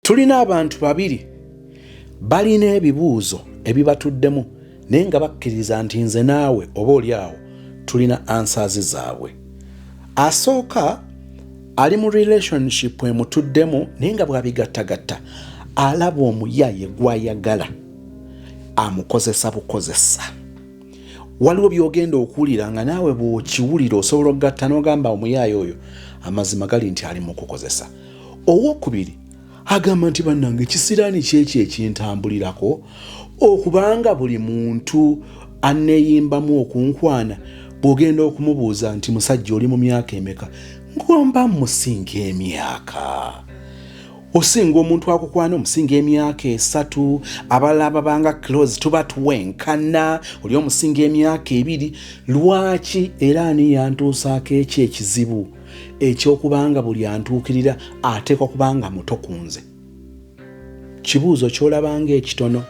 tulina abantu babiri balina ebibuuzo ebibatuddemu naye nga bakkiriza nti nze naawe oba oli awo tulina ansaazi zaabwe asooka ali mu relationship emutuddemu naye nga bwabigattagatta alaba omuyaye gwayagala amukozesa bukozesa waliwo byogenda okuwulira nga naawe bwokiwulira osobola okugatta nogamba omuyaaye oyo amazima gali nti ali mukukozesa owokubiri agamba nti bannange ekisiraani kyekyo ekintambulirako okubanga buli muntu aneyimbamu okunkwana bwogenda okumubuuza nti musajja oli mu myaka emeka ngomba musinga emyaka osinga omuntu akukwana omusinga emyaka esatu abalala babanga close tuba tuwenkana oli omusinga emyaka ebiri lwaki era ani yantuusaako ekyo ekizibu ekyokubanga buli antuukirira ateekwa kubanga muto ku nze kibuuzo kyolabanga ekitono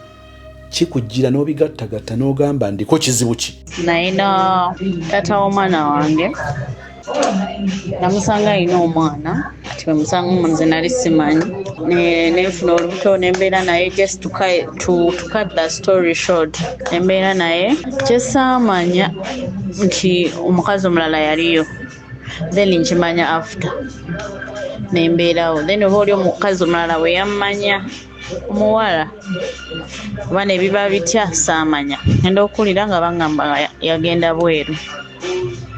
kikujjira n'obigattagatta n'ogamba ndiko kizibu ki nayina tata w'omwana wange namusanga alina omwana kati bwemusanga omunze nali simanyi nenfuna olubuto nembeera naye just tukat the story short nembeera naye kyesaamanya nti omukazi omulala yaliyo then nkimanya after nembeerawo then oba oli omukazi omulala weyammanya omuwala oba nebiba bitya saamanya enda okuwulira nga bangamba yagenda bweru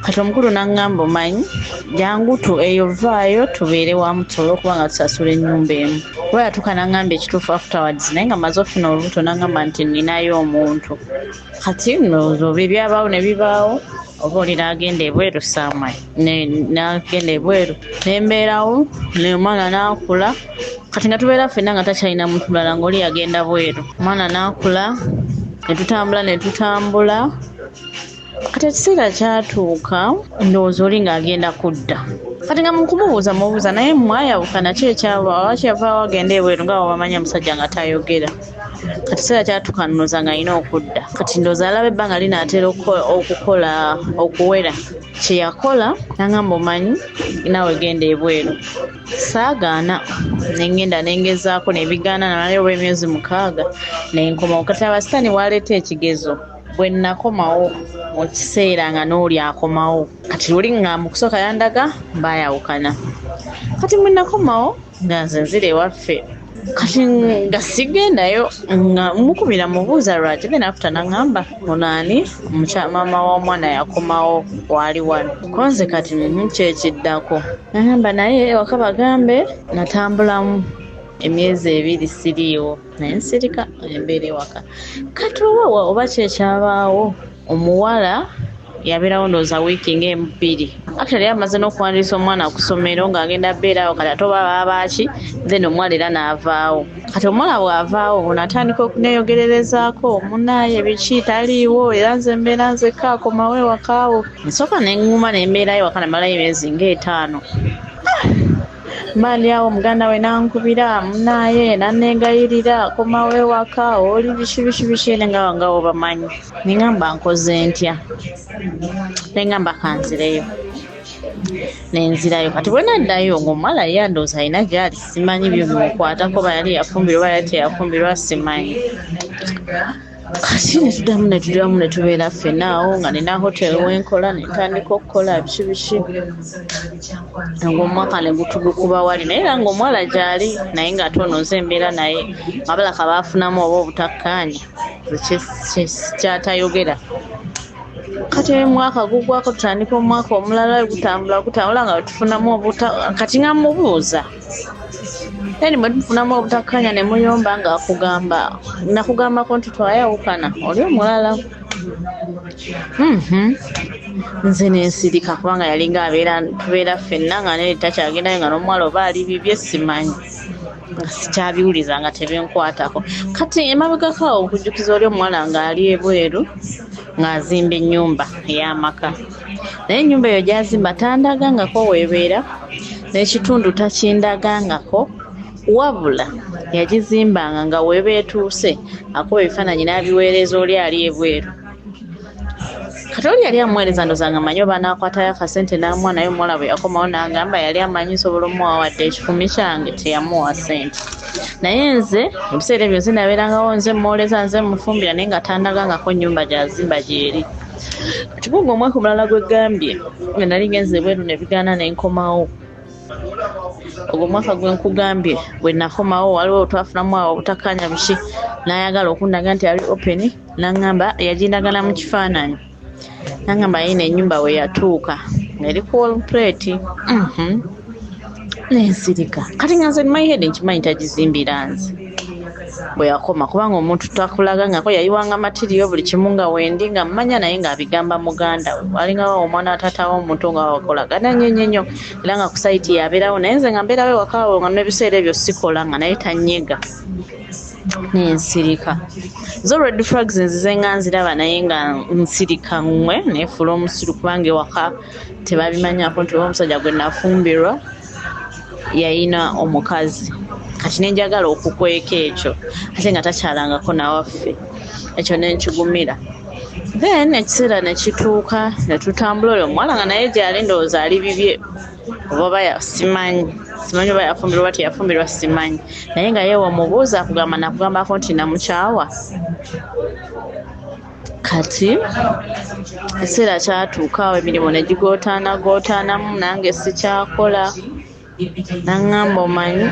kati omukulu nangamba omanyi jangu tu eyo vaayo tubeere wamu tusobole okuba nga tusasula enyumba emu oba yatuuka nangamba ekituufu afterwards naye nga maze ofuna olubuto nangamba nti ninayo omuntu kati nno oba ebyabaawo ne bibaawo oba oli n'agenda ebweru saamwe n'agenda ebweru nembeerawo omwana n'akula kati nga tubeera ffenna nga takyalina muntu mulala ngaoli yagenda bweru omwana n'akula ne tutambula ne tutambula kati ekiseera kyatuuka ndowooza oli ng'agenda kudda kati nga mukumubuuza mubuuza naye mwayawukana ki ekyabaawo akyavaawo agenda ebweru nga wabamanya musajja nga tayogera kati kiseera kyatuka nnoza nga alina okudda kati ndoza alaba ebbanga linaatera okukola okuwera kyeyakola nangamba omanyi naawe genda ebweru saagaana nengenda nengezaako nebigaana namalayo oba emyezi mukaaga nenkomawo kati abasitaani waleeta ekigezo bwe nakomawo mu kiseera nga n'oli akomawo kati luli nga mu kusooka yandaga baayawukana kati mwenakomawo nga nze nzira ewaffe kati nga sigendayo nga mukubira mubuuza lwaki then after nangamba ono ani Mukya- maama w'omwana yakomawo waali wano konze kati mhm, kyekiddako nagamba naye ewaka bagambe natambulamu emyezi ebiri siriiwo naye nsirika embeera ewaka kati oba wa- oba kyekyabaawo omuwala yaberawo ndowooza wiiki ngaemu bbiri actually amaze n'okuwandiisa omwana ku ssomero ng'agenda beerawo kati ate oba baabaaki then omuwala era n'avaawo kati omuwala bw'avaawo ono atandika okuneeyogererezaako omunaaye biki taliiwo era nze mbeera nzekka akomawo ewakaawo nsooka ne ŋŋuma ne mbeerayo waka namalayo emyezi ng'etaano Mani awo muganda we nankubira munaye nanegayirira komawo ewaka oli biki biki biki nenga nga obamanyi nengamba nkoze ntya nengamba kanzireyo nenzirayo kati bwenaddayo ngaomuwala ye andoozi alina gyali simanyi byo bimukwatako bayali yafumbirwa oba yali teyafumbirwa simanyi kati netudamu netudamu netubeera ffena awo nga nina hotel wenkola netandika okukola biki biki ngaomwaka negutugukuba wali naye era ngaomuwala gyali naye nga ate ono nze embeera naye abala kabaafunamu oba obutakkaanya kyatayogera kati mwaka gugwako tutandika omwaka omulala gutambula gutambula nga wetufunamu obuta kati nga mubuuza Yaani mwe tufunamu obutakkanya ne muyomba ng'akugamba nakugambako nti twayawukana oli omulala mhm. nze nensirika kubanga yalinga abeera tubeera ffenna nga neri takyagendayo nga n'omuwala oba ali bibye simanyi nga sikyabiwuliza nga tebenkwatako kati emabegako awo okujjukiza oli omuwala ng'ali ebweru ng'azimba ennyumba ey'amaka naye enyumba eyo gyazimba tandagangako webeera nekitundu takindagangako wabula yagizimbanga nga weba etuuse akuba ebifaananyi n'abiweereza oli ali ebweru kati oli yali amuweereza ndozanga manyi oba naakwatayo akasente n'amuwa naye omuwala bwe yakomawo n'agamba yali amanyi nsobola omuwa wadde ekikumi kyange teyamuwa sente naye nze ebiseera ebyo nze nabeerangawo nze muwooleza nze mufumbira naye nga tandagangako nnyumba gyazimba gyeri Kibunga omwaka omulala gwe gambye nga nali ngenze ebweru ne bigaana ne nkomawo. Ogwo omwaka gwe nkugambye bwe nakomawo waliwo twafunamu awo obutakkaanya buki n'ayagala okundaga nti ali open n'angamba yagindaga na mu kifaananyi n'angamba yayina ennyumba we yatuuka eri ku wall plate mhm. ne nsirika kati nga nze my head nkimanyi tagizimbira nze. bweyakoma kubanga omuntu twakulaga ngako yayiwanga matiriyo buli kimu nga wendi nga mmanya naye ng'abigamba muganda we walingawo omwana watatawo omuntu nga wakolagana nnyo nnyo nnyo era nga kusaiti yabeerawo naye nze nga mbeerawo ewakawo nga nebiseera ebyo sikola nga naye tanyega nensirika zo red frags nzize nga nziraba naye nga nsirika ngwe nefuula omusiru kubanga ewaka tebabimanyako nti oba omusajja gwe nafumbirwa yayina omukazi kati nenjagala okukweka ekyo ate nga takyalangako nawaffe ekyo nenkigumira then ekiseera nekituuka netutambula oyo omuwala nga naye gyali ndowooza ali bibye oba simanyi simanyi oba yafumbirwa oba teyafumbirwa simanyi naye nga yewe omubuuza akugamba nakugambako nti namukyawa kati ekiseera kyatuuka awo emirimu ne gigootaanagootaanamu nange sikyakola naŋŋamba omanyi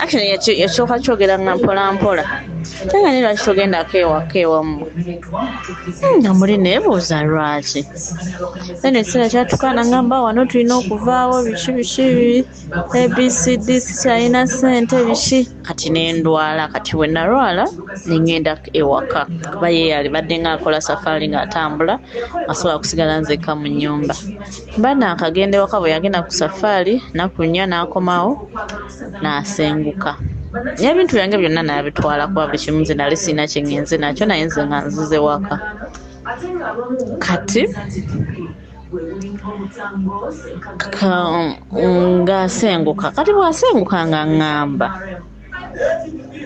actually yakyoka kyogera nga mpola mpola ate nga naye lwaki togendako ewaka ewammwe hmm, nga muli neebuuza lwaki then ekiseera kyatuuka naŋŋamba wano tulina okuvaawo biki biki abcd sikyalina ssente biki kati nendwala kati wenalwala nengenda ewaka kuba ye yali badde nga akola safaali nga atambula asobola kusigala nzekka mu nyumba mba nakagenda ewaka bwe yagenda ku safaali nakunya nakomawo nasenguka naye ebintu byange byonna nabitwala kuba buli kimu nze nali sirina kyengenze nakyo naye nze nga nzize waka kati Ka, nga asenguka kati bw'asenguka nga ŋŋamba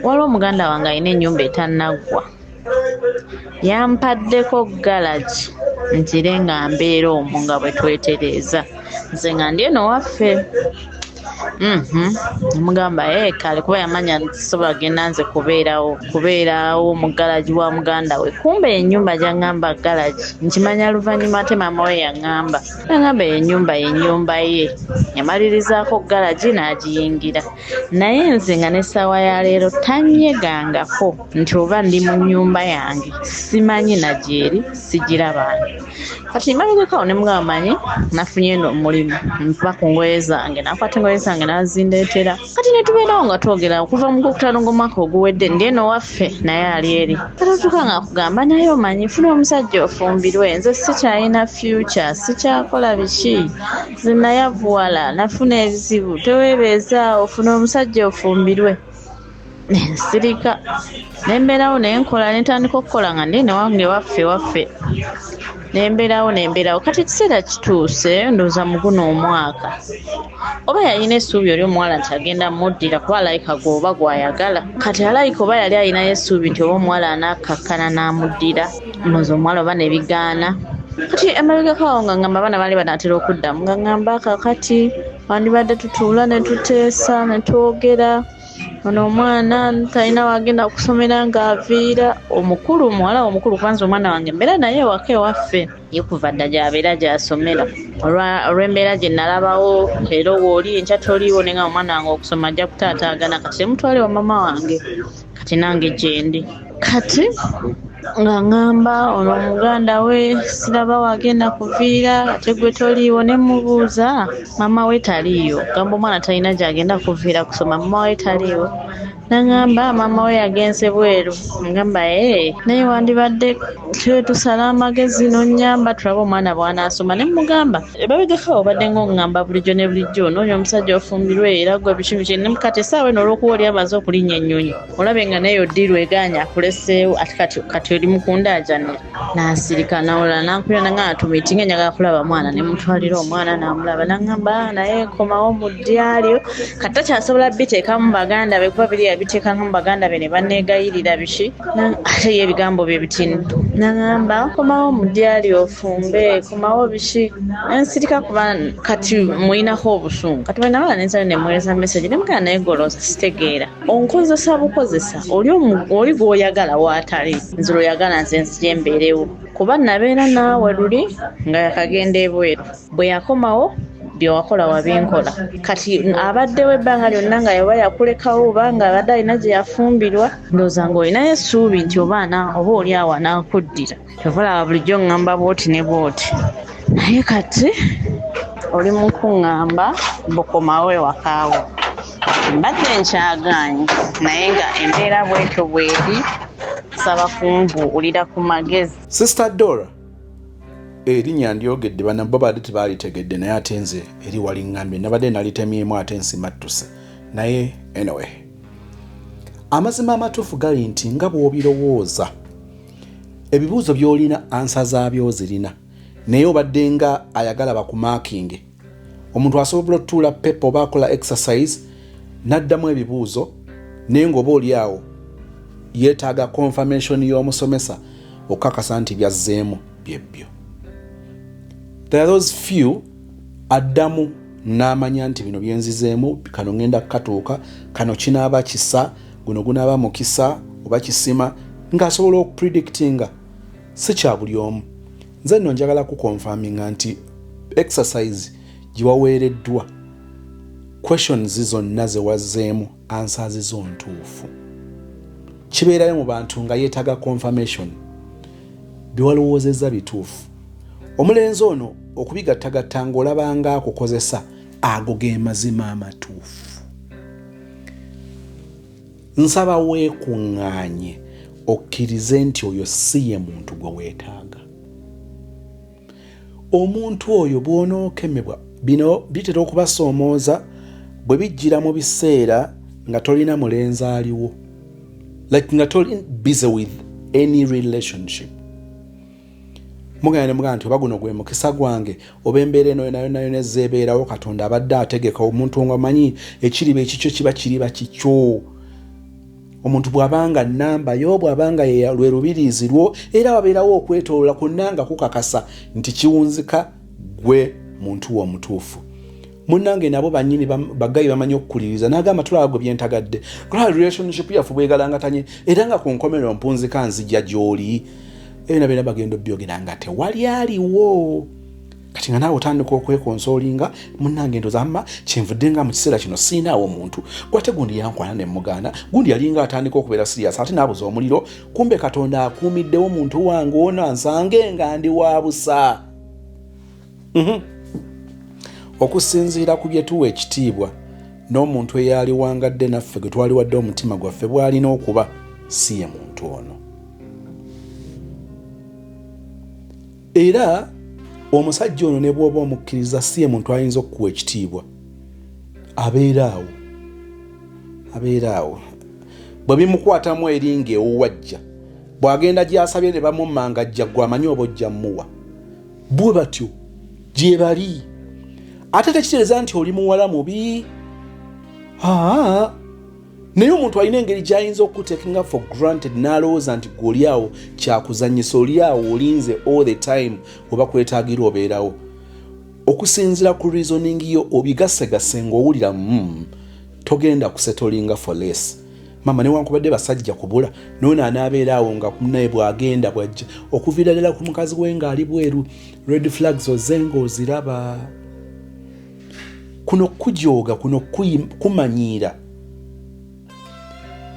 waliwo muganda wange alina ennyumba etannaggwa yampaddeko galagi ngire nga mbeera omwo nga bwe twetereeza nze nga ndi eno waffe. namugamba mm -hmm. kale kuba yamanya sobola genda nze kubeerawo kubeerawo mu galagi wa muganda we kumba enyumba gyangamba galagi nkimanya oluvannyuma ate maama we yaŋŋamba yaŋŋamba enyumba yenyumba ye yamalirizaako galagi n'agiyingira naye nze nga n'essaawa ya leero tanyegangako nti oba ndi mu nyumba yange simanyi nagyeri sigirabanga kati mabegako ne mugamba manyi nafunye no omulimu nva ku ngoye zange nakwata engoye zange nazindeetera kati netubeerawo nga twogera okuva mu gwokutaano ng'omwaka oguwedde ndi eno waffe naye ali eri katatuka nga akugamba naye omanyi funa omusajja ofumbirwe nze sikyalina fyuca sikyakola biki nze nayavuwala nafuna ebizibu teweebeezaawo funa omusajja ofumbirwe nsirika nembeerawo nenkola nentandika okukola nga ndi newange waffe waffe nembeerawo nembeerawo kati ekiseera kituuse ndooza muguno omwaka oba yalina essuubi oli omuwala nti agenda muddira kuba alayika gweoba gwayagala kati alayika oba yali alinayo essuubi nti oba omuwala anakkakkana n'amuddira noza omuwala oba nebigaana kati emabegako awo nga ngamba abaana baali banaatera okuddamu nga ngamba kakati wandibadde tutuula netuteesa netwogera ono omwana talina wagenda kusomera nga aviira omukulu muwala omukulu kubanza omwana wange mbeera naye ewaka ewaffe ye kuva dda gyabeera gyasomera olw'embeera gye nalabawo leero wooli enkya toliiwo naye nga omwana wange okusoma ajja kutaataagana kati temutwale wa mama wange kati nange gyendi kati nga ŋŋamba ono muganda we siraba wagenda kuviira ate gwe toliiwo ne mubuuza maama we taliiyo gamba omwana talina gyagenda kuviira kusoma maama we taliiwo naŋamba maama we yagenze bweru agamba ee naye wandibadde twetusala amagezi nonyamba tulabe omwana bwanaasoma ne mugamba ebabegaka obadde ngaoŋŋamba bulijjo ne bulijjo noonya omusajja ofumbirwe era gwe bikimiki nemukati esaawa eno olwokuba oli amaze okulinnya ennyonyi olabe nga naye odiru eganya akuleseewo ati kati kati oli mukunda ajani nasirika nawola nankubira nanga atumiti nga njagala kulaba mwana nemutwalira omwana namulaba nangamba ah, naye komawo mu dyalyo kati takyasobola biteekamu baganda be kuba biri yabiteekanga mu baganda be ne banegayirira biki ate ye ebigambo bye bitini nangamba komawo mu dyalyo ofumbe komawo biki ensirika kuba kati muyinako obusungu kati bwenabala nensalo nemwereza message nemugana naye golosa sitegeera onkozesa bukozesa oli oli gwoyagala waatali nze lweyagala nze nzija embeerewo kuba nabeera naawe luli nga yakagenda ebweru bwe yakomawo byewakola wabinkola kati abaddewo ebbanga lyonna nga yaba yakulekawo oba nga abadde alina gye yafumbirwa ndowooza nga olinayo essuubi nti obaana oba oli awo anaakuddira kyova olaba bulijjo ŋŋamba bwoti ne bwoti naye kati oli mu kuŋŋamba bukomawo ewakaawo mbadde nkyagaanyi naye nga embeera bwetyo bweri nsaba kumbuulira ku magezi sister dora erinya ndyogedde bana bo baali tebaalitegedde naye ate nze eri waliŋŋambye nabadde nalitemyemu ate nsimattuse naye anyway amazima amatuufu gali nti nga bw'obirowooza ebibuuzo byolina ansa zaabyo ozirina naye obadde nga ayagala bakumakinge omuntu asobola otuula pepa oba akola exercise n'addamu ebibuuzo naye ngaoba oli awo yeetaaga confirmation y'omusomesa okukakasa nti byazzeemu byebbyo there those few addamu n'amanya nti bino byenzizeemu kano ŋenda kukatuuka kano kinaaba kisa guno gunaaba mukisa oba kisima ng'asobola okupredictinga si kya buli omu nze nno njagala kukonfaminga nti exercise gye waweereddwa questions zonna ze wazzeemu ansaazi zo ntuufu kibeerayo mu bantu nga yeetaaga confirmation bye walowoozezza bituufu omulenzi ono okubigattagatta ng'olabanga akukozesa ago ge mazima amatuufu nsaba weekuŋŋaanye okkirize nti oyo si ye muntu gwe weetaaga omuntu oyo bw'onookemebwa bino bitera okubasoomooza bwe bijjira mu biseera nga tolina mulenzi aliwo like nga toli busy with any relationship mugenda ne mugamba nti oba guno gwe mukisa gwange oba embeera eno yonayonayona ezza ebeerawo katonda abadde ategeka omuntu nga manyi ekiriba ekikyo kiba kiriba kikyo omuntu bw'abanga nnamba yo bw'abanga lwe lubiriizi lwo era wabeerawo okwetolola kwonna nga kukakasa nti kiwunzika gwe muntu wo omutuufu munange nabo banyini bagayi bamanyi okukuliriza nagamba tulaba gwe byentagadde tulaba relationship yaffe bwegalangatanye era nga ku nkomerero mpunzika nzija gy'oli ebina byona bagenda obyogera nga tewali aliwo kati nga naawe otandika okwekonsolinga munange ndoza mma kyenvudde nga mu kiseera kino siinaawo omuntu gwate gundi yankwana ne mugaana gundi yalinga atandika okubeera siriyas ate naabuza omuliro kumbe katonda akuumiddewo omuntu wange ono ansange nga ndi wa busa mhm. okusinziira ku bye tuwa ekitiibwa n'omuntu eyaaliwangadde naffe gwe twaliwadde omutima gwaffe bw'alina okuba si ye muntu ono era omusajja ono ne bw'oba omukkiriza si ye muntu ayinza okukuwa ekitiibwa abeera awo abeera awo bwe bimukwatamu eringa ewuwajja bw'agenda gy'asabye ne bamumangajja gwe amanyi oba ojja mmuwa bwe batyo gyebali ate tekitereeza nti oli muwala mubi aa naye omuntu alina engeri gyayinza okukutekinga for granted n'alowooza nti gweoli awo kyakuzanyisa oli awo olinze all the time webakwetagira obeerawo okusinzira ku reasoning yo obigasegase ngaowulira mu mm, togenda kusetolinga for less mama newankubadde basajja kubula nono anaabeera awo nga naye bwagenda bwajja okuviira ddala ku mukazi we ngaali bweru red flags ozenga oziraba kuno kujooga kuno kumanyiira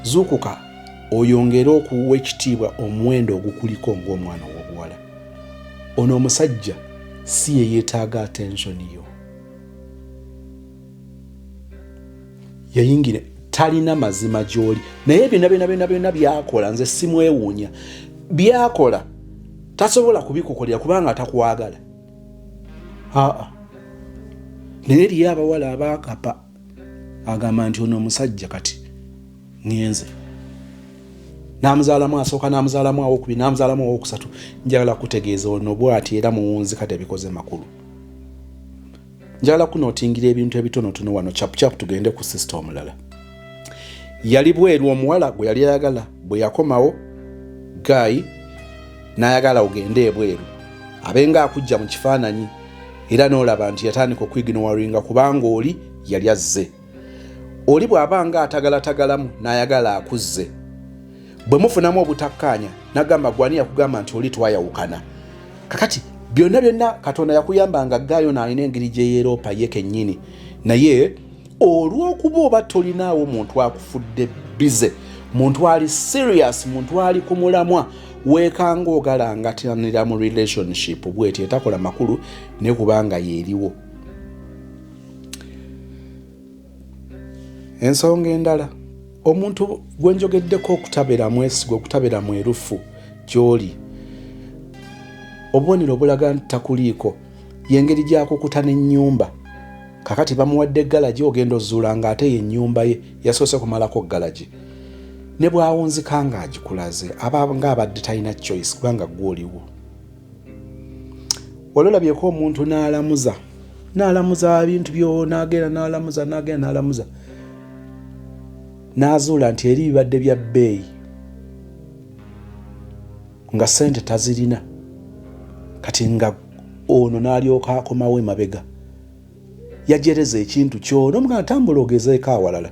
zuukuka oyongere okuwa ekitiibwa omuwendo ogukuliko ng'omwana ow'obuwala ono omusajja si ye yeetaaga attensioni yo yayingira talina mazima gyoli naye byona byona byona byona byakola nze simwewuunya byakola tasobola kubikukolera kubanga takwagala aa naye eriyo abawala abakapa agamba nti ono omusajja kati ngenze namuzaalamu asooka namuzaalamu awokubi namuzaalamu awokusatu njagala kutegeeza ono bwati era muwunzi kati ebikoze makulu njagala kunotingira ebintu ebitonotono wano chapuchapu tugende ku sisita omulala yali bweru omuwala gwe yali ayagala bwe yakomawo gaayi n'ayagala ogende ebweru abenga akujja mu kifaananyi era n'olaba nti yatandika okwiginowaringa kubanga oli yali azze oli bw'aba nga atagalatagalamu n'ayagala akuzze bwe mufunamu obutakkaanya nagamba gwani yakugamba nti oli twayawukana kakati byonna byonna katonda yakuyamba nga gaayo naalina engeri gyeyeeroopa ye kennyini naye olw'okuba oba tolinaawo muntu akufudde bize muntu ali serious muntu ali ku mulamwa weekanga ogalangatanira mu relationship bwetyo etakola makulu ne kubanga yeeriwo ensonga endala omuntu gwenjogeddeko okutabera mwesiga okutabera mwerufu gyoli obubonero obulaga nti takuliiko yengeri gyakukuta nenyumba kakati bamuwadde galagi ogenda ozuula nga ate yenyumba ye yasoose kumalako galagi ne bwawunzika nga agikulaze aba nga abadde talina choice kubanga gwoliwo wali olabyeko omuntu n'alamuza n'alamuza bintu byo n'agenda n'alamuza n'agenda n'alamuza n'azuula nti eri bibadde bya bbeeyi nga sente tazirina kati nga ono n'alyoka akomawo emabega yajereza ekintu kyona omuga atambula ogezeeko awalala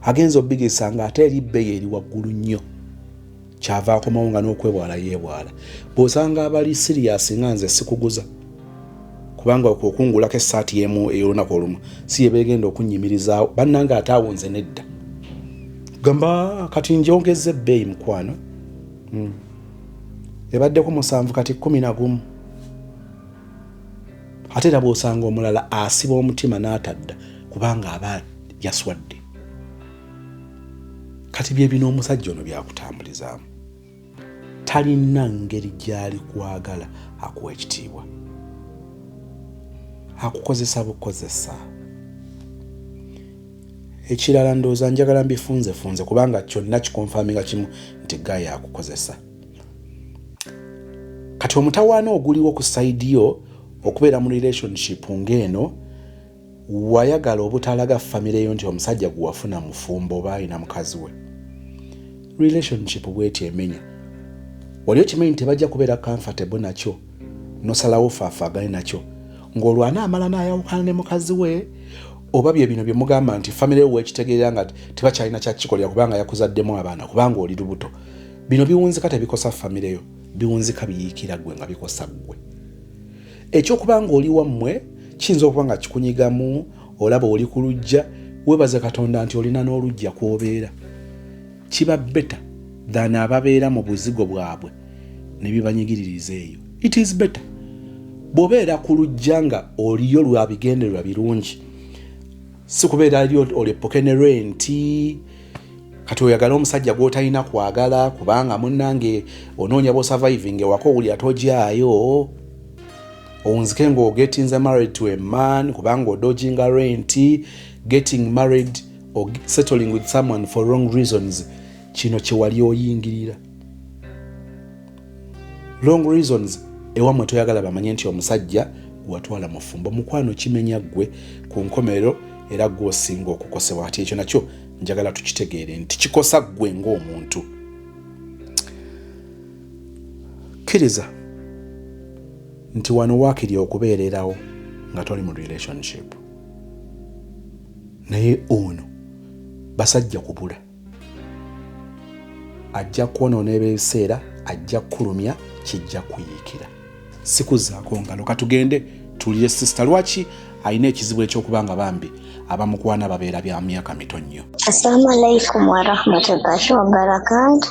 agenza obigisa nga ate eri bbeeyi eri waggulu nnyo kyava akomawo nga n'okwebwala yeebwala bw'osanga abali siriyasi nga nze sikuguza kubanga okungulako essaati yemu ey'olunaku olumu si yebeegenda okunnyimirizaawo bannanga ate awo nze nedda gamba kati njongeza ebbeeyi mukwano hmm. ebaddeko musanvu kati kumi na gumu ate era bw'osanga omulala asiba omutima n'atadda kubanga aba yaswadde kati byebino omusajja ono byakutambulizaamu talina ngeri gyali kwagala akuwa ekitiibwa akukozesa bukozesa ekirala ndowooza njagala mbifunzefunze kubanga kyonna kikonfami nga kimu nti gaye akukozesa kati omutawaana oguliwo ku saidi yo okubeera mu relationship ng'eno Wayagala obutalaga family yo nti omusajja gwewafuna mufumbo oba alina mukazi we. Relationship bweti emenya. Wali okimanyi nti tebajja kubeera comfortable nakyo nosalawo faafagane nakyo ng'olwana amala n'ayawukana ne mukazi we oba bye bino bye mugamba nti family yo wekitegeera nga tebakyalina kyakikolera kubanga yakuzaddemu abaana kubanga oli lubuto bino biwunzika tebikosa family yo biwunzika biyiikira gwe nga bikosa gwe. ekyokuba nga oli wammwe kiyinza okuba nga kikunyigamu olaba oli ku lujja webaza katonda nti olina n'olujja kwobeera kiba beta than ababeera mu buzigo bwabwe ne bibanyigiririza eyo it is beta bwobeera ku lujja nga oliyo lwabigendererwa birungi si kubeera ali olepoke ne renti kati oyagala omusajja gwotalina kwagala kubanga munange onoonya bosurviving ewaka owulira togyayo owunzike ngaogetinze married to a man kubanga odoginga renti getting married or settling with someone for wrong reasons kino kyewali oyingirira long reasons ewamwe toyagala bamanye nti omusajja gwewatwala mufumbo mukwano kimenya ggwe ku nkomerero era gwe osinga okukosebwa kati ekyo nakyo njagala tukitegeere nti kikosa ggwe ng'omuntu kkiriza nti wano waakiri okubeererawo nga toli mu relationship naye ono basajja kubula ajja kwonoona ebiseera ajja kukulumya kijja kuyiikira sikuzaako ngalo katugende tuwulire sisita lwaki alina ekizibu ekyokuba nga bambi abamukwana babeera bya myaka mito nnyo assalamu alaikum warahmatullahi wabarakatu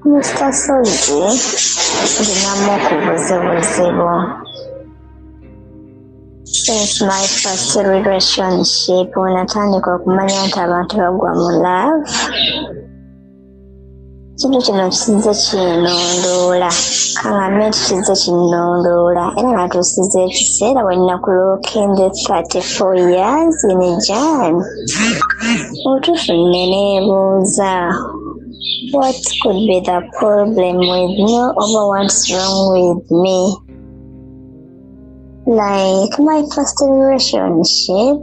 mr sozi ndinamu okubuzibuzibu Since my first relationship when atandika okumanya nti abantu bagwa mu love ekintu kino kizze kinondoola kaŋambe nti kizze kinondoola era natuusiza ekiseera wenna ku lookende 34 years in jan obutuufu nne neebuuza what could be the problem with me oba what's wrong with me Like my first relationship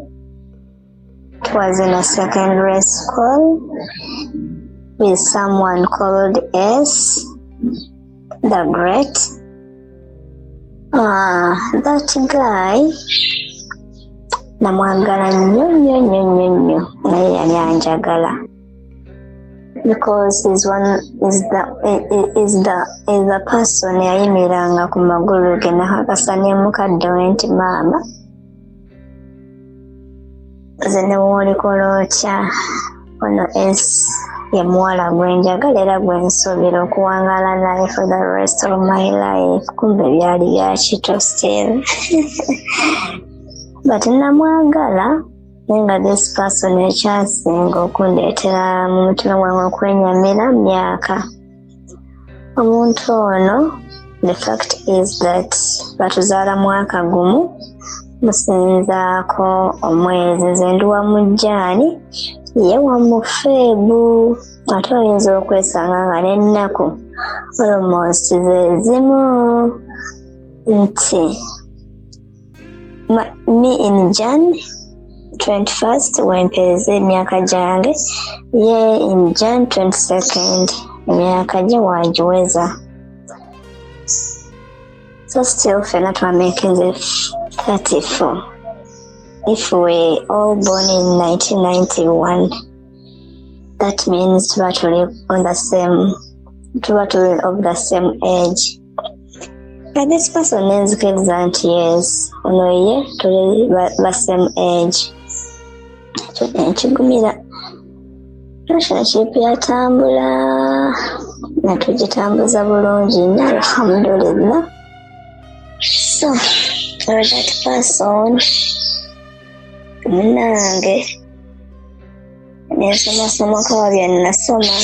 was in a secondary school with someone called S, the Great. Uh, that guy namwagala nnyo nnyo nnyo nnyo nnyo naye yali anjagala because is one is the is the is the person yayimiranga ku magulu ge nakakasa ne mukadde we nti maama nze ne woolikola otya ono es ye muwala gwe njagala era gwe nsuubira okuwangaala naye for the rest of my life kumbe byali byakito still but namwagala naye nga this person ekyasinga okundeetera mu mutima gwange okwenyamira myaka omuntu ono the fact is that batuzaala mwaka gumu musinzaako omwezi nze ndi wa mujjaani ye wa mufeebu ate oyinza okwesanga nga n'ennaku olomoosi ze zimu nti Ma, me in jan 21st wempeeza emyaka gyange ye in jan 22nd emyaka gye wagiweza so still fena twamakinze 34 if we all born in 1991 that means tuba tuli on the same tuba tuli of the same age At this person names kids and yes. Ono ye tuli ba same age. Ekigumira relationship yatambula nga tugitambuza bulungi nnyo alhamdulillah. So for that person munange Nasoma soma kama vya ninasoma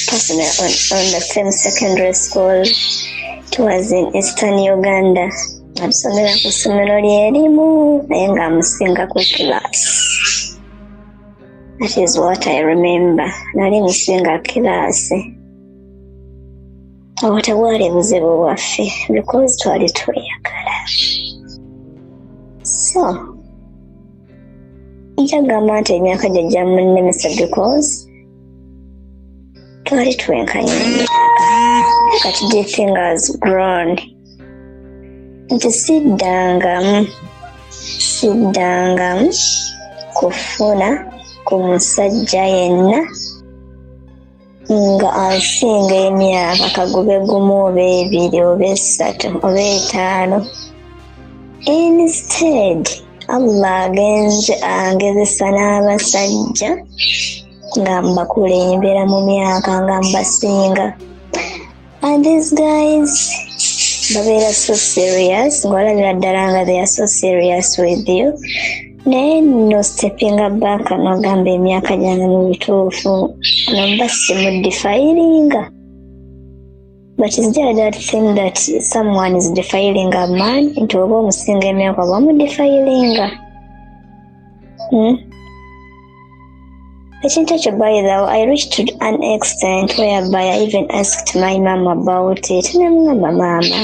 personal on, on the same secondary school towards in Eastern Uganda. Natusomera ku ssomero ly'erimu naye nga amusinga ku class. That is what I remember. Nali musinga kilaasi. Awo tebwali buzibu bwaffe because twali tweyagala. So, nkyagamba nti emyaka gye gyamunnemesa because twali twenkanya kati the thing has grown nti siddangamu siddangamu kufuna ku musajja yenna nga asinga emyaka kagube gumu oba ebiri oba esatu oba etaano instead allah agenze angezesa n'abasajja nga mbakulembera mu myaka nga mbasinga and these guys babeera so serious ng'olabira ddala nga they are so serious with you naye nno sitepinga banka nogamba emyaka gyange mu bituufu nomba simudifayiringa but is there that thing that someone is defiling a man nti oba omusinga emyaka oba mudifayiringa hmm? Ekintu ekyo by the way, I reached to an extent whereby I even asked my mom about it. Namugamba maama,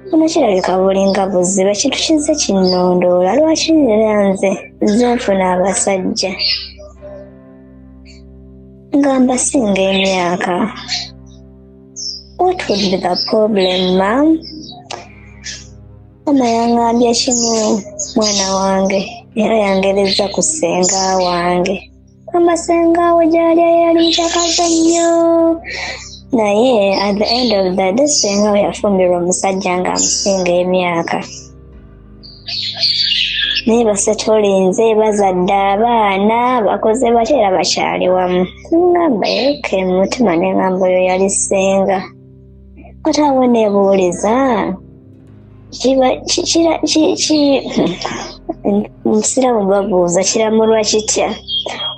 buno kirabika bulinga buzibu ekintu kizze kinnondoola lwaki nera nze nze nfuna abasajja nga mbasinga emyaka what would be the problem mam Mama yangambye kimu mwana wange era yangereza ku ssenga wange mama ssenga we gyali yali mucakaza nnyo naye at the end of the day ssenga we yafumbirwa omusajja nga amusinga emyaka naye basetolinze bazadde abaana bakoze batya era bakyali wamu ngamba yoka emutima nengamba oyo yali ssenga kati awo nebuuliza kiba kira omusiraamu babuuza kiramulwa kitya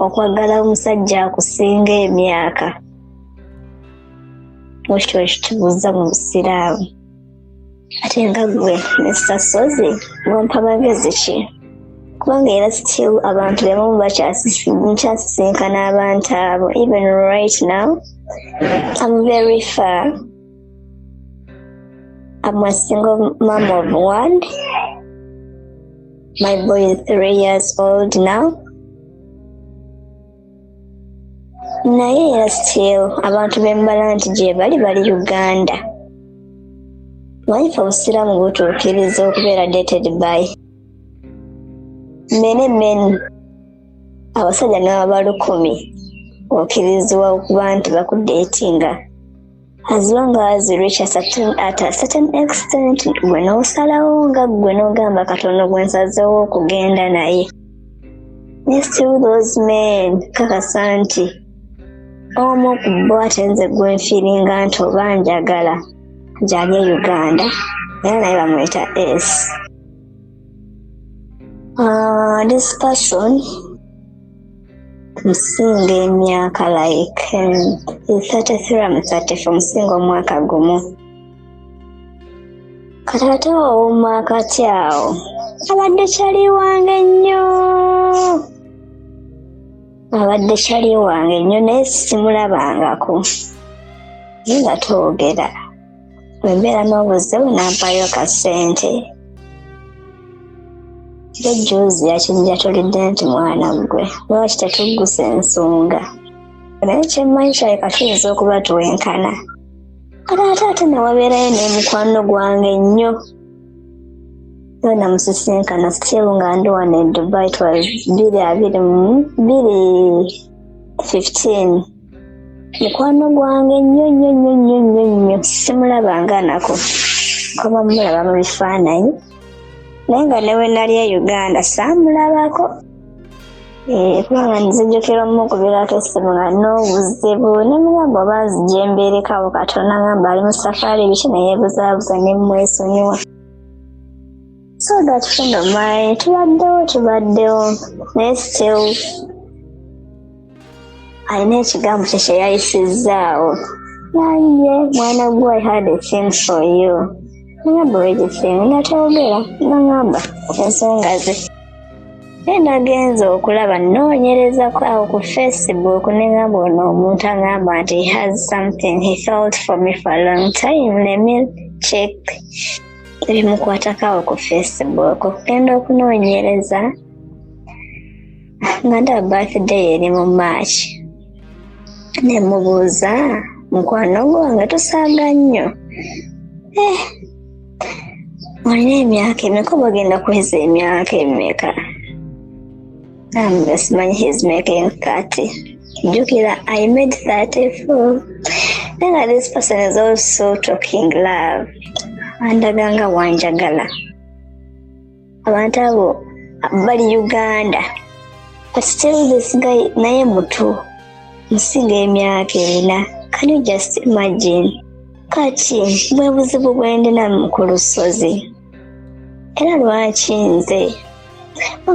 okwagala omusajja akusinga emyaka ekyo ekikibuuza mu busiraamu ate nga gwe mr sozi wampa magezi ki kubanga era still abantu bebamu bakyasisinkana abantu abo even right now am very far am a single mom of one my boy is three years old now naye era still abantu bembala nti gyebali bali uganda mwayife obusiraamu butuukiriza okubeera dated by mene men abasajja nababa lukumi okirizibwa okuba nti bakudeetinga as long as reach a certain, at a certain extent gwe n'osalawo nga gwe n'ogamba katonda gwe nsazeewo okugenda naye ne still those men kakasa nti omu ku bo ate nze gwe nfiiringa nti oba njagala gyali e uganda era naye bamuyita s uh, ah, this person nsinga emyaka like um, 33 mu 34 nsinga omwaka gumu kataata wawuma akati awo abadde kyali wange nnyo abadde kyali wange nnyo naye simulabangako naye nga twogera bwembeera n'obuzibu nampayo ka ssente ye juzi yakinjatulidde nti mwana gwe lwaki tetuggusa ensonga naye kyemmanyi kyaleka tuyinza okuba twenkana kale ate ate newabeerayo n'emukwano gwange nnyo yo namusisinkana still nga ndi wano e dubai twa biri abiri mu biri 15 mukwano gwange nnyo nnyo nnyo nnyo nnyo nnyo simulabanga nako kuba mulaba mu bifaananyi naye nga ne wenali e uganda saamulabako eh, kubanga nzijukira omukubirako essimu nga n'obuzibu ne mugamba oba nzija embeerekawo katonda ngamba ali mu safaari biki naye buzaabuza ne mmwesonyiwa so that kino my tubaddewo tubaddewo naye still alina ekigambo kye kye yayisizzaawo naye mwana gwe i had a thing for you ngamba wegifin nga toyogera nangamba ensonga ze naye nagenza okulaba noonyereza awo ku facebook nengamba ono omuntu angamba nti he has something he felt for me for a long time let me check ebimukwatako awo ku facebook okugenda okunoonyereza nga ndaba birthday eri mu march ne mubuuza mukwano gwange tusaaga nnyo eh, olina emyaka emeka obagenda kuweza emyaka emeka simanyi his making 30 jukira i made 34 nanga this person is also talking love andaga nga wanjagala abantu abo bali uganda but still this guy naye mutu musinga emyaka erina can you just imagine kati bwe buzibu bwendina ku lusozi era lwaki nze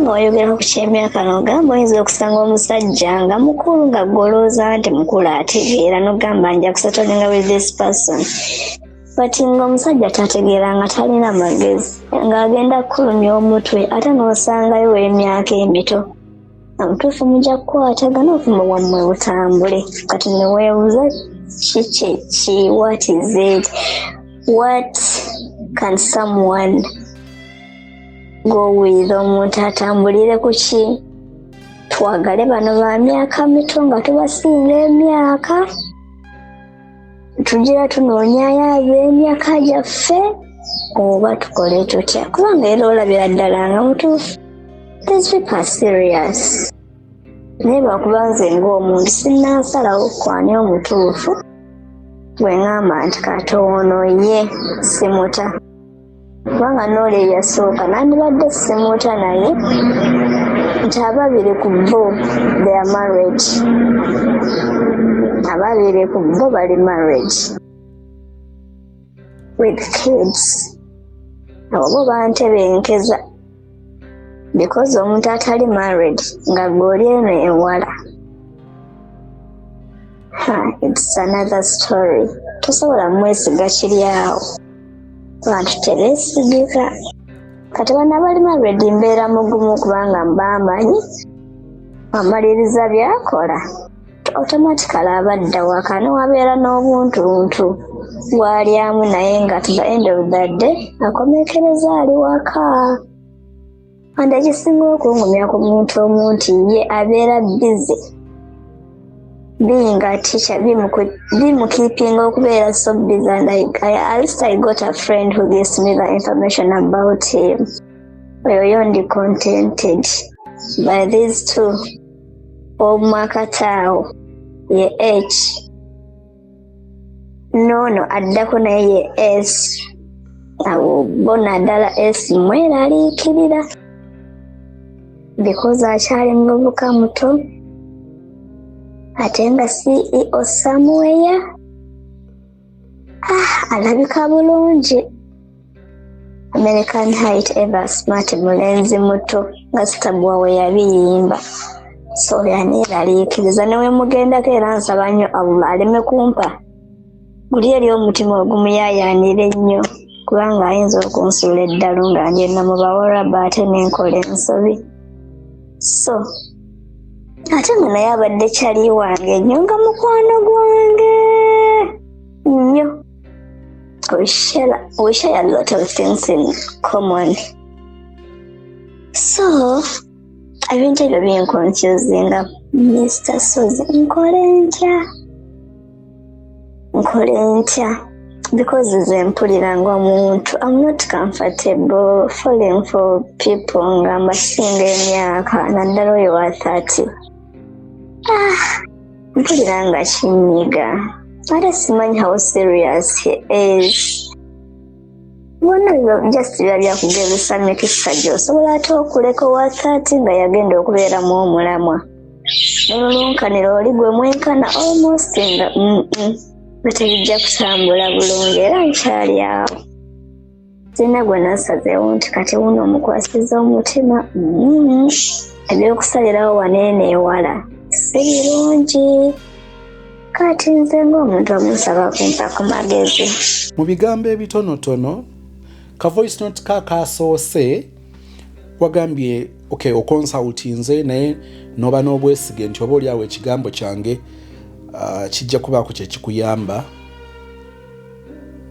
nga wayogera ku kyemyaka nogamba oyinza okusanga omusajja nga mukulu nga golooza nti mukulu ategeera nogamba nja kusatolinga with this person but nga omusajja tategeera nga talina magezi ng'agenda kukulumya omutwe ate n'osangayo w'emyaka emito obutuufu mujja kukwatagana obuvumu bwammwe butambule kati neweebuza ki kyeki what is it what can someone go with omuntu atambulire ku ki twagale bano ba myaka mito nga tubasinga emyaka tugira tunoonyayo ab'emyaka gyaffe oba tukole tutya kubanga era olabira ddala nga mutuufu these people are serious naye lwakuba nze ng'omuntu sinnansalawo kwani omutuufu gwe ŋŋamba nti katoono ye simuta kubanga noola eyasooka nandibadde simuuta naye nti ababiri ku bo theya married ababiri ku bo bali married with kids abo bo bantebenkeza because omuntu atali married nga goli eno ewala it's another story tosobola mwesiga kiri awo abantu tebesigika kati bana bali married mbeera mugumu kubanga mbamanyi amaliriza byakola automatically abadda waka newabeera n'obuntuntu gwalyamu naye nga to the end of the day akomekereza ali waka and ekisinga okungumya ku muntu omu nti ye abeera busy being a teacher bimukipinga okubeera so busy and I, I, at least I got a friend who gives me the information about him oyo yo ndi contented by these two ow'omwakataawo ye h noono addako naye ye s abo bo naddala s mweraliikirira because akyali muvubuka muto ate nga ceo samuweya Ah, alabika bulungi american height ever smart mulenzi muto nga sitabwa we yabiyimba so yaneeraliikiriza newemugendako era nsaba nnyo allah aleme kumpa guli eri omutima ogumuyayaanira ennyo kubanga ayinza okunsuula eddalu nga ngenda mu bawarabu ate nenkola ensobi so ate nga naye abadde kyali wange nyo nga mukwano gwange nyo we share, we share a lot of things in common so ebintu ebyo binkonfuzinga mr sozi nkole ntya nkole ntya because nze mpulira nga omuntu am not comfortable falling for people nga mbasinga emyaka naddala oyo wa thirty ah, mpulira nga kinyiga ate simanyi how serious he is bona byo just biba byakugezesa mikisa gyo osobola ate okuleka wakati nga yagenda okubeeramu omulamwa nolulunkanira oli gwe mwenkana almost nga batebijja kutambula bulungi era nkyali awo sirina gwe nasazeewo nti kati wuno omukwasiza omutima mm-hmm. ebyokusalirawo waneene ewala si birungi kati nze ng'omuntu omusaba kumpa ku magezi mu bigambo ebitonotono ka voice note ka kaasoose wagambye okay, okonsultinze naye noba n'obwesige nti oba oliawo ekigambo kyange uh, kijja kubaako kyekikuyamba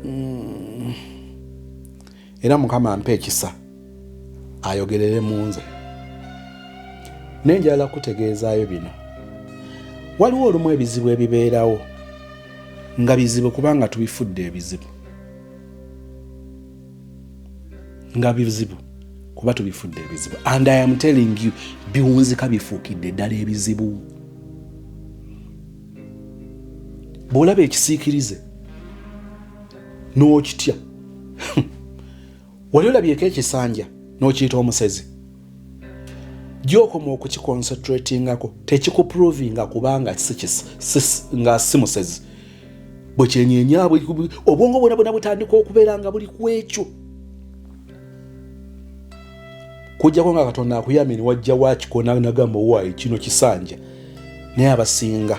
mm. era mukama mpa ekisa ayogerere mu nze naye njagala kutegeezaayo bino waliwo olumu ebizibu ebibeerawo nga bizibu kubanga tubifudde ebizibu nga bizibu kuba tubifudde ebizibu and i am telling you biwunzika bifuukidde ddala ebizibu bw'olaba ekisiikirize n'okitya wali olabyeko ekisanja n'okiyita omusezi gyokoma okukikoncentratingako tekikuprovinga kubanga nga si musezi bwe kyenyenya obwongo bwona bwona butandika okubeera nga buli ku ekyo kujjako nga katonda akuyamye niwajja wakiko nagamba owaayi kino kisanja naye abasinga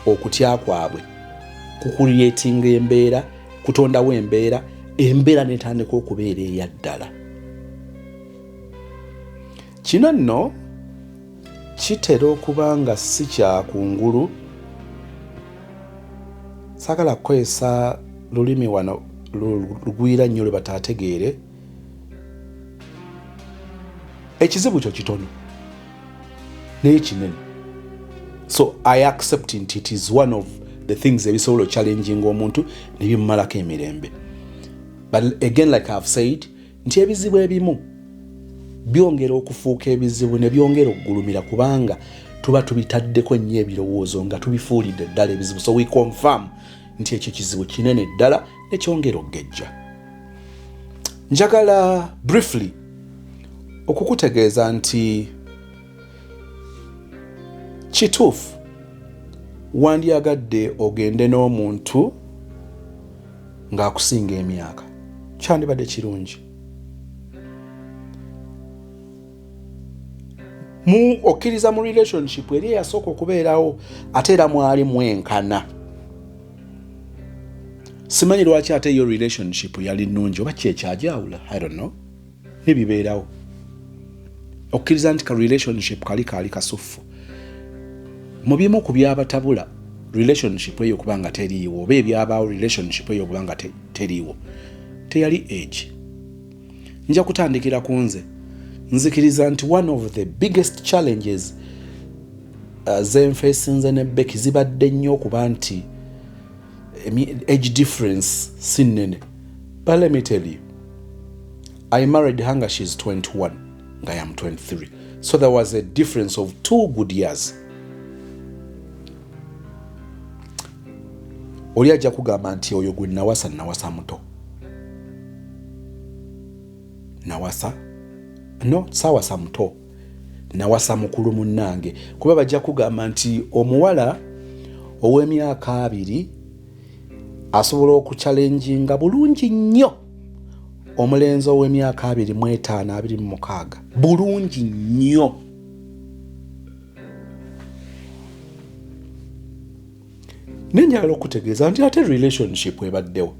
okutya kwabwe kukuliyetinga embeera kutondawo embeera embeera netandika okubeera eyaddala kino nno kitera okuba nga si kyakungulu sagala kukozesa lulimi wano lugwira nnyo lwe bataategeere ekizibu kyo kitono naye kinene so i accept nti it is one of the things ebisobola ochallenging omuntu nebimumalako emirembe but again like ihave said nti ebizibu ebimu byongera okufuuka ebizibu ne byongera okugulumira kubanga tuba tubitaddeko nnyo ebirowoozo nga tubifuulidde ddala ebizibu so we confirm nti ekyo kizibu kinene ddala nekyongera okugejja njagala briefly okukutegeeza nti kituufu wandyagadde ogende n'omuntu ng'akusinga emyaka kyandibadde kirungi mu okkiriza mu relationship eri eyasooka okubeerawo ate era mwali mwenkana simanyi lwaki ate yo relationship yali nnungi oba kyekyagyawula i don't know nebibeerawo okkiriza nti ka relationship kali kaali kasuffu mu bimu ku byabatabula relationship eyo okuba nga teriiwo oba ebyabaawo relationship eyo okuba nga teriiwo teyali age nja kutandikira ku nze nzikiriza nti one of the biggest challenges uh, zenfesinze ne beki zibadde nnyo okuba nti age difference si nnene but let me tell you i married her nga she's 21 nga yam 23 so there was a difference of two good years oli ajja kugamba nti oyo gwe nawasa nawasa muto nawasa no sawasa muto nawasa mukulu munnange kuba bajja kugamba nti omuwala ow'emyaka abiri asobola okukyalenjinga bulungi nnyo omulenzi ow'emyaka abiri mu etaano abiri mu mukaaga bulungi nnyo naye nyala okutegeeza nti ate relationship ebaddewo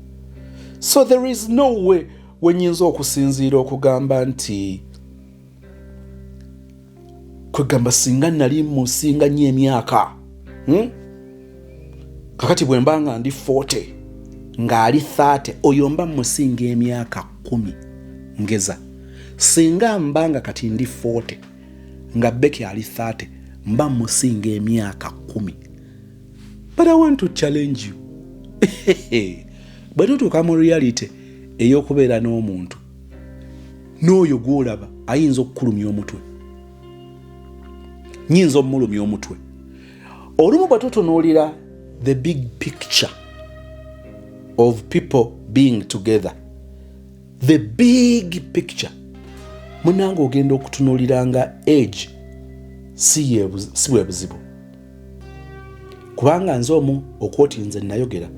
so there is no way wenyinza okusinziira okugamba nti kwegamba singa nali musinga nnyo emyaka hmm? kakati bwe mba nga ndi 40 ng'ali 30 oyo mba musinga emyaka 1 ngeza singa mba nga kati ndi 40 nga beki ali 30 mba musinga emyaka kumi but i want to challenge you bwe tutuuka mu reality ey'okubeera n'omuntu n'oyo gw'olaba ayinza okukulumya omutwe nyinza omulumya omutwe olumu bwe tutunuulira the big picture of people being together the big picture munange ogenda okutunulira nga age si bwe buzibu kubanga nze omu okwoti nze nayogera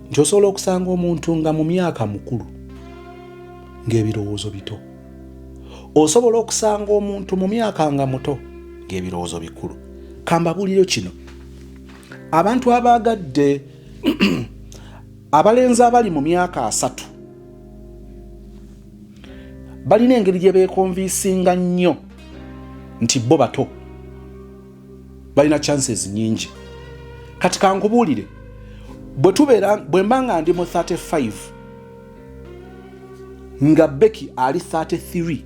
nti osobola okusanga omuntu nga mu myaka mukulu ng'ebirowoozo bito osobola okusanga omuntu mu myaka nga muto ng'ebirowoozo bikulu kambabuliro kino abantu abaagadde abalenzi abali mu myaka asatu balina engeri gye beekonviisinga nnyo nti bo bato balina chances nyingi kati kankubuulire bwe tubeera bwe mba nga ndi mu 35 nga beki ali 33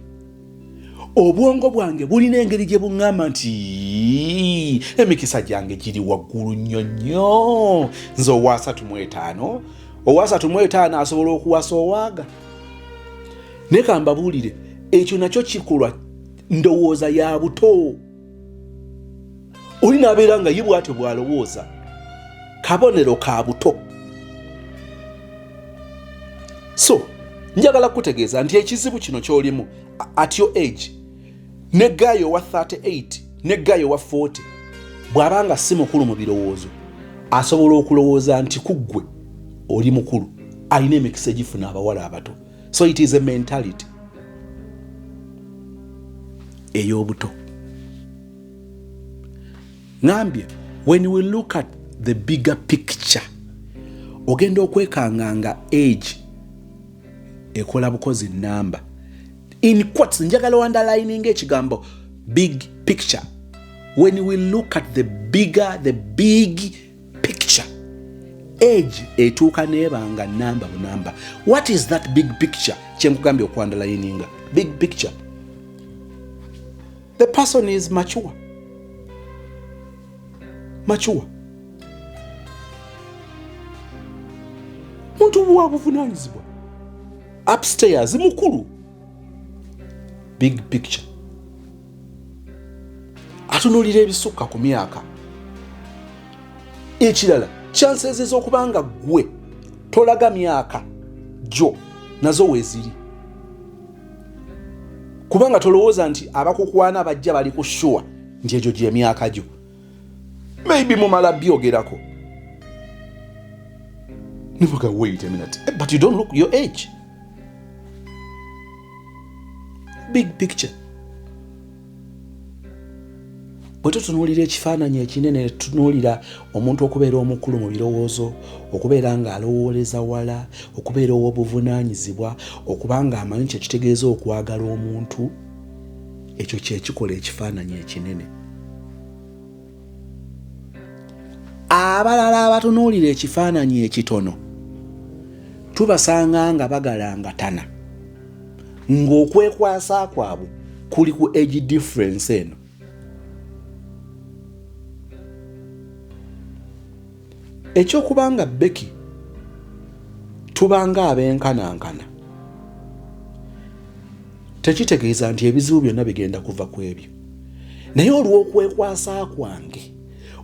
obwongo bwange bulina engeri gye buŋŋamba nti emikisa gyange giri waggulu nnyo nnyo nze owaasatu mu etaano owaasatu mu etaano asobola okuwasa owaaga naye kambabuulire ekyo nakyo kikolwa ndowooza ya buto oli n'abeera nga ye bwatyo bw'alowooza kabonero ka buto so njagala kukutegeeza nti ekizibu kino ky'olimu at your age ne gaayi owa 38 ne gaayi owa 40 bw'aba nga si mukulu mu birowoozo asobola okulowooza nti ku ggwe oli mukulu alina emikisa egifuna abawala abato so it is a mentality ey'obuto ngambye when we look at the bigger picture ogenda okwekanga nga age ekola bukozi namba in quotes njagala underlining ekigambo big picture when we look at the bigger the big picture age etuuka nebanga namba bunamba what is that big picture kyenkugambye okwandala yininga big picture the person is mature mature muntu buwa buvunanyizibwa upstairs mukulu big picture atunulira ebisukka ku myaka ekirala chances ezokuba nga gwe tolaga myaka gyo nazo weziri kubanga tolowooza nti abakukwana bajja bali ku shuwa nti egyo gyemyaka gyo maybe mumala byogerako nivuga wait a minute eh, but you don't look your age big picture bwe tutunuulira ekifaananyi ekinene ne tutunuulira omuntu okubeera omukulu mu birowoozo okubeera ng'alowooleza wala okubeera ow'obuvunaanyizibwa okuba ng'amanyi kye kitegeeza okwagala omuntu ekyo kye kikola ekifaananyi ekinene abalala abatunuulira ekifaananyi ekitono tubasanga nga bagalangatana ng'okwekwasa kwabwe kuli ku age difference eno Eky'okuba nga Becky tubanga ab'enkanankana tekitegeeza nti ebizibu byonna bigenda kuva ku ebyo naye olw'okwekwasa kwange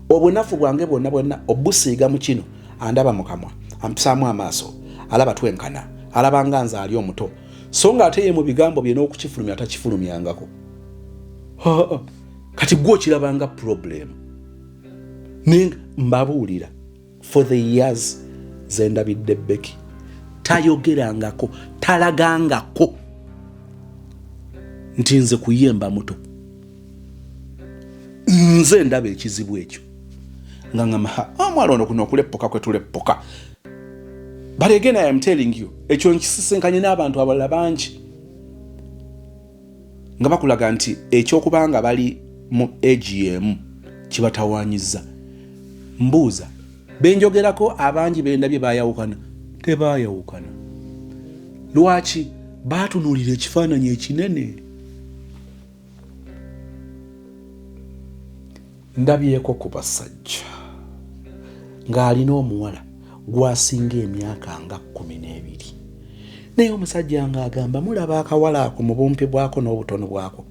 obunafu bwange bwonna bwonna obusiiga mu kino andaba mu kamwa ampisaamu amaaso alaba twenkana alaba nga nze ali omuto so nga ate ye mu bigambo bye n'okukifulumya atakifulumyangako kati gwe okirabanga purobulemu naye mbabuulira for the years zendabidde beki tayogerangako talagangako nti nze kuyemba muto nze ndaba ekizibu ekyo nga ngamaha ah, omwana ono kuno okuleppoka kwetuleppoka but again i am telling you ekyo nkisisinkanye n'abantu abalala bangi nga bakulaga nti ekyokuba nga bali mu egi yemu kibatawanyiza mbuuza benjogerako abangi bendabye bayawukana tebayawukana lwaki batunulira ekifaananyi ekinene Ndabyeko ku basajja ng'alina omuwala gwasinga emyaka nga kkumi n'ebiri naye omusajja ng'agamba mulaba akawala ako mu bumpi bwako n'obutono bwako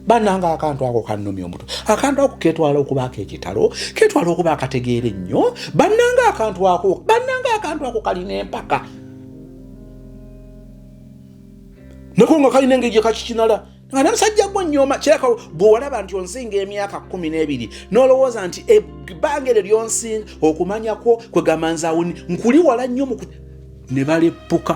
bananga akantu ako kanumya omutu akantu ako ketwala okubaako ekitalo ketwala okuba akategeera ennyo bananga akantu ako bananga akantu ako kalina empaka nako nga kalina engeri gyekakikinala nga nomusajja gwo nyoma kiraka bwewalaba nti onsinga emyaka kumi n'ebiri nolowooza nti ebbanga eryo lyonsinga okumanyakwo kwegamba nzawuni nkuli wala nnyo mu ne baleppuka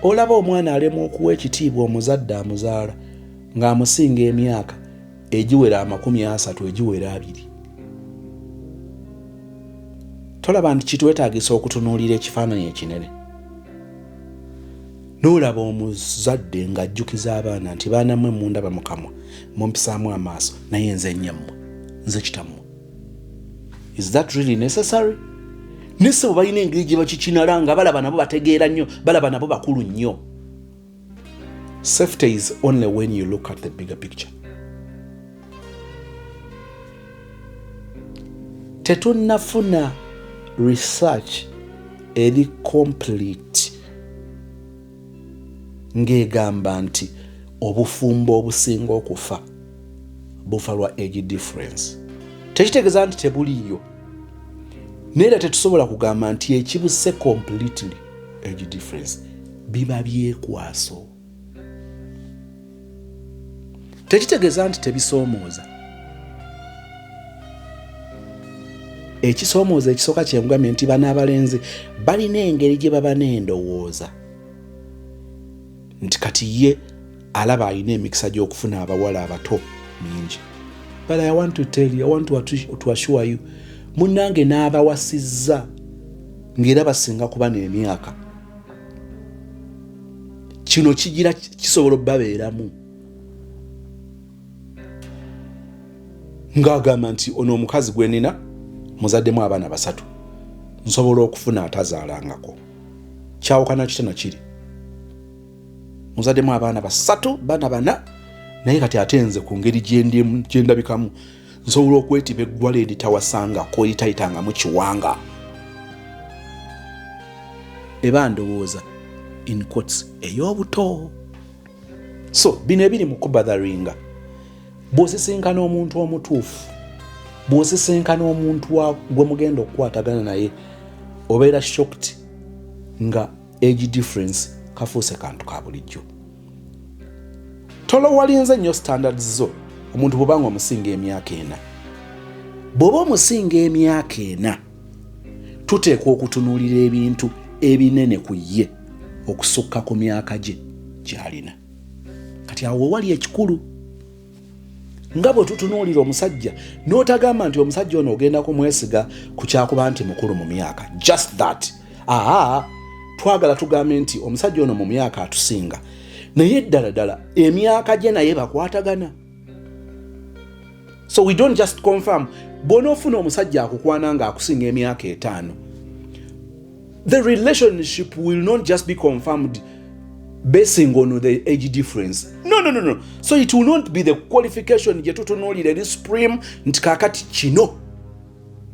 olaba omwana alemwa okuwa ekitiibwa omuzadde amuzaala ng'amusinga emyaka egiwera amakumi asatu egiwera abiri tolaba nti kitwetagisa okutunuulira ekifaananyi ekinene nolaba omuzadde ng'ajjukiza abaana nti baana mwe mundaba mukamwa mumpisaamu amaaso naye nze nyammwe nze kitammwe is that really necessary nese bwe balina engeri gye bakikinala nga balaba nabo bategeera nnyo balaba nabo bakulu nnyo Safety is only when you look at the bigger picture. Tetunafuna research eri complete ng'egamba nti obufumbo obusinga okufa bufa lwa age difference tekitegeeza nti tebuliiyo naye era tetusobola kugamba nti ekibuse completely age difference biba byekwaso tekitegeeza nti tebisoomooza ekisoomooza ekisooka kyemugambye nti bana abalenzi balina engeri gye baba n'endowooza nti kati ye alaba alina emikisa gy'okufuna abawala abato mingi but i want to tell you i want to assure you munange n'abawasizza ng'era basinga kuba n'emyaka kino kigira kisobola obabeeramu ng'agamba nti ono omukazi gwe nina muzaddemu abaana basatu nsobola okufuna atazaalangako kyawukana kitana kiri muzademu abaana basatu bana bana naye kati ate nze ku ngeri gyendabikamu nsobola okwetiba eggwala eritawasanga koyitayitangamu kiwanga eba ndowooza in cots ey'obuto so bino ebiri mu kubadharinga bwosisinkana omuntu omutuufu bwosisinkana omuntu gwe mugenda okukwatagana naye obeera shokt nga age difference kafuuse kantu ka bulijjo tolowalinze nnyo standards zo omuntu bwoba nga omusinga emyaka ena bw'oba omusinga emyaka ena tuteekwa okutunuulira ebintu ebinene ku ye okusukka ku myaka gye gy'alina kati awo wewali ekikulu nga bwe tutunuulira omusajja n'otagamba nti omusajja ono ogenda kumwesiga ku kyakuba nti mukulu mu myaka just that aa twagala tugambe nti omusajja ono mu myaka atusinga naye ddala ddala emyaka gye naye bakwatagana so we don't just confirm bw'onoofuna omusajja akukwana ng'akusinga emyaka etaano the relationship will not just be confirmed basing on the age difference no, no, no, no. so it will not be the qualification gyetutunuulira eri supreme nti kakati kino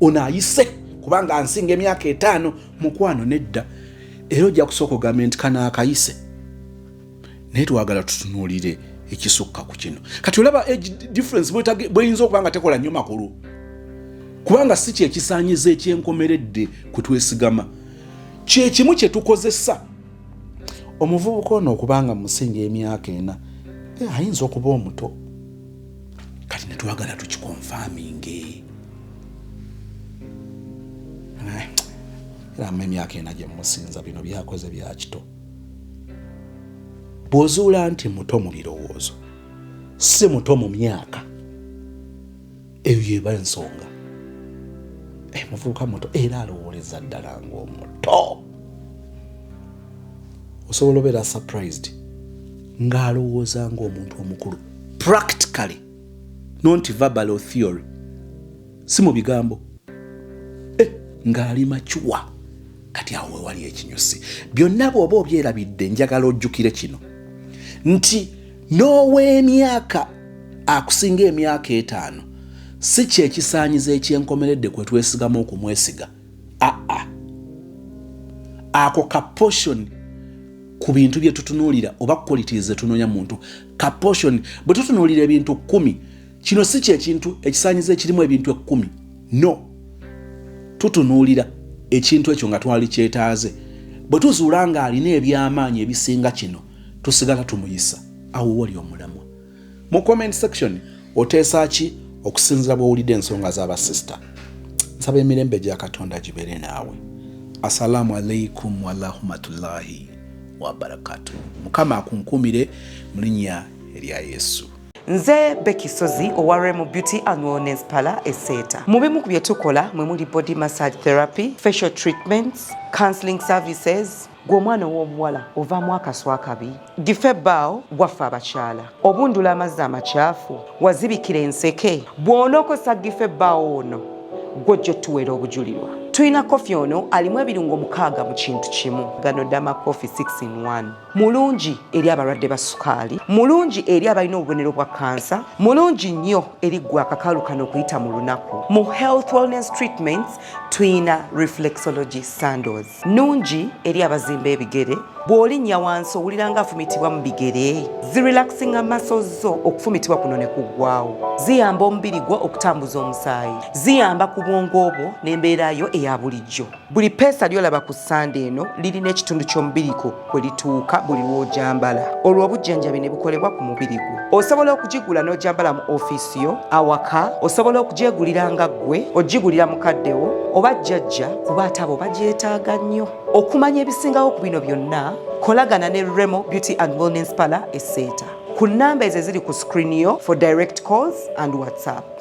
ono ayise kubanga ansinga emyaka etaano mukwano nedda era ojja kusooka ogambye nti kano akayise naye twagala tutunuulire ekisukka ku kino kati olaba age difference bweyinza okuba nga tekola nnyo makulu kubanga si kyekisanyiza ekyenkomeredde kwe twesigama kyekimu kye tukozesa omuvubuka ono okubanga musinga emyaka ena eh, ayinza okuba omuto kati netwagala tukikonfaminge eh, era mu emyaka ena gyemusinza bino byakoze byakito bw'ozuula nti muto mu birowoozo si muto mu myaka eyo yeba ensonga eh, muvubuka muto era alowooleza ddala ng'omuto osobola obeera surprised ng'alowooza ng'omuntu omukulu practically nonti verbal or theory si mu bigambo eh, ng'ali macuwa kati awo wewali ekinyusi byonna bwoba obyerabidde njagala ojjukire kino nti n'ow'emyaka akusinga emyaka etaano si kyekisaanyizo ekyenkomeredde kwe twesigama okumwesiga aa ako ka potion ku bintu bye tutunuulira oba qualities zetunoonya muntu ka potion bwe tutunuulira ebintu kumi kino si kyekintu ekisanyiza ekirimu ebintu ekkumi no tutunuulira ekintu ekyo nga twali kyetaaze bwe tuzuula ng'alina eby'amaanyi ebisinga kino tusigala tumuyisa awo wali omulamwa mu comment section oteesa ki okusinzira bw'owulidde ensonga z'abasisita nsaba emirembe gya katonda gibeere naawe assalamu alaikum warahmatullahi wabarakatu mukama akunkumire mu linnya erya yesu nze Becky Sozi owa Remo Beauty and Wellness Parlor eseeta mu bimu ku bye tukola mwe muli body massage therapy facial treatments counseling services gwe omwana ow'obuwala ovaamu akaswa akabi dife baawo waffe abakyala obundula amazzi amakyafu wazibikira enseke bw'onookozesa dife baawo ono gwojja otuweera obujulirwa tulina kofi ono alimu ebirungo mukaaga mu kintu kimu gano dama kofi 6 in 1 mulungi eri abalwadde ba sukaali mulungi eri abalina obubonero bwa kansa mulungi nnyo eri gwe akakalu kano okuyita mu lunaku mu health wellness treatments tuyina reflexology sandos nungi eri abazimba ebigere bw'olinnya wansi owulira nga afumitibwa mu bigere zirelaxinga maso zo okufumitibwa kuno ne kuggwawo ziyamba omubiri gwo okutambuza omusaayi ziyamba ku bwongo obwo n'embeera yo eya bulijjo Buli peesa lyolaba ku ssande eno lirina ekitundu ky'omubiri gwo kwe lituuka buli lw'ogyambala olwo obujjanjabi ne bukolebwa ku mubiri gwo. Osobola okugigula n'ogyambala mu ofiisi yo, awaka, osobola okugyegulira nga ggwe, ogigulira mukaddewo oba jjajja kuba ate abo bagyetaaga nnyo. Okumanya ebisingawo ku bino byonna, kolagana ne Remo Beauty and Wellness Parlour e Seeta ku nnamba ezo eziri ku screen yo for direct calls and WhatsApp.